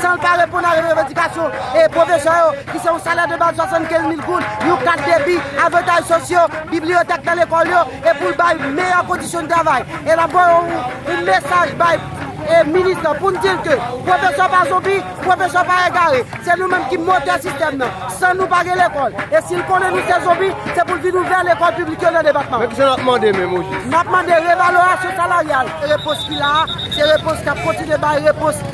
San l pa reponn a revandikasyon pwofesè yo ki se yon salè de baz 75 mil goud, yon kat debi, avantaj sosyo, bibliyotèk nan lekòl yo e pou l bay meyè kondisyon de travay. E n ap voye yon mesaj bay minis lan pou n di l ke pwofesè pa zonbi, pwofesè pa egare. Se nou menm ki motè sistèm nan. San nou pa gen lekòl. E si l konnen nou se zonbi, se pou l vin ouvè lekòl piblik yo nan depatman an. N ap mande revalorasyon salaryal. Repons ki la a, se repons k ap kontinye bay repons.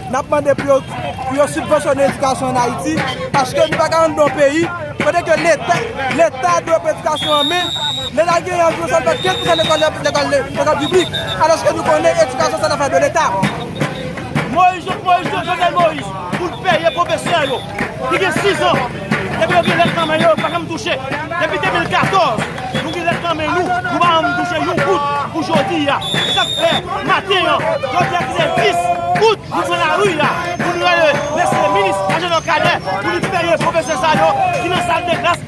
N ap mande pou yo pou yo sibvansyone edikasyon an Ayiti paske nou pa ka antre nan yon peyi kote ke leta leta dwe pran edikasyon an men leta genyen anviwon sèlman 15 pousan lekòl yo lekòl lekòl piblik alòske nou konnen edikasyon se lafè de leta. Moyiz Jovenel Moyiz pou l peye pwofesè yo. ki gen 6 an epi yo gen lèt nan men yo, yo pa janm touche depi 2014 nou gen lèt nan men nou, nou pa janm touche yon goud pou jodi a, se sak fè maten an jodi a ki se 10 out nou pran lari a pou nou rele mesye minis Agenor Cadet pou li peye pwofesè sa yo ki nan sal de klas.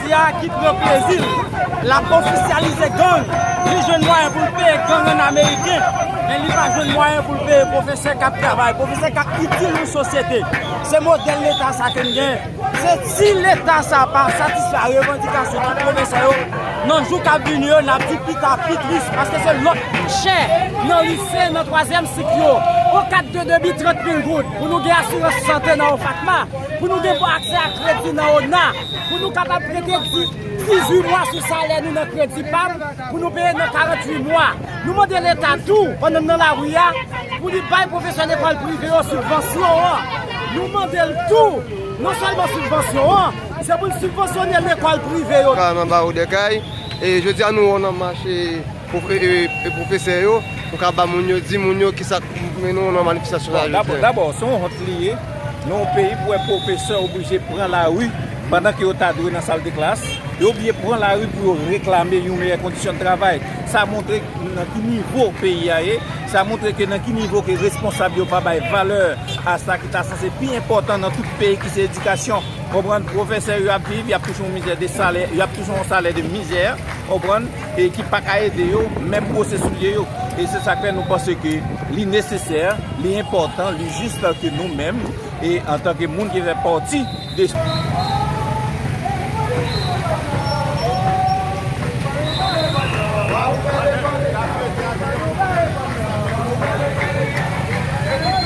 Jodi a ki pran plezi l l ap ofisyalize gang, li jwenn mwayen pou l peye gang an ameriken, men li pa jwenn mwayen pou l peye pwofesè k ap travay, pwofesè k ap itil yon sosyete. Se modèl leta sa ke n gen. Se si leta sa pa satisfè a revandikasyon tout pwofesè yo, nan jou k ap vini yo, n ap di pita pi tris, paske se lòt chè nan lise, nan twazyèm sik yo, yon kat de debi 30 mil goud, pou nou gen asirans sante nan OFATMA, pou nou gen bon aksè a kredi nan ona. pou nou kapab prete 18 mwa sou salè nou nan kredi pam pou nou peye nan 48 mwa. Nou mande leta tou, pandan n nan lari a, pou li bay pwofesè lekòl prive yo sibvansyon an. Nou mande l tou, non sèlman sibvansyon an, se pou l sibvansyone lekòl prive yo tou. Carmen Barreau Durkheil, Jodi a nou nan mache. Profesè yo pou ka ba moun yo, di moun yo ki sa k mennen nou nan manifestasyon sa jodi an. Dabò, se yon wont li ye nan yon peyi pou wè profesè oblije pran lari pandan ke yo ta dwe nan sal de klas, yo oblije pran lari pou yo reklame yon meyè kondisyon de travay. Sa montre nan ki nivo peyi a ye, sa montre ke nan ki nivo ke responsab yo pa bay valè a sa ki ta sanse pi enpòtan nan tout peyi ki se edikasyon. Konprann? Profesè yo ap viv, y ap touche yon mizè de salè, y ap touche yon salè de mizè. Konprann? e ki pa ka ede yo, menm bwose soulye yo. E se sa k fè nou panse ke li nesesè, li enpòtan, li jis ke nou menm, e antanke moun ki fè pati de.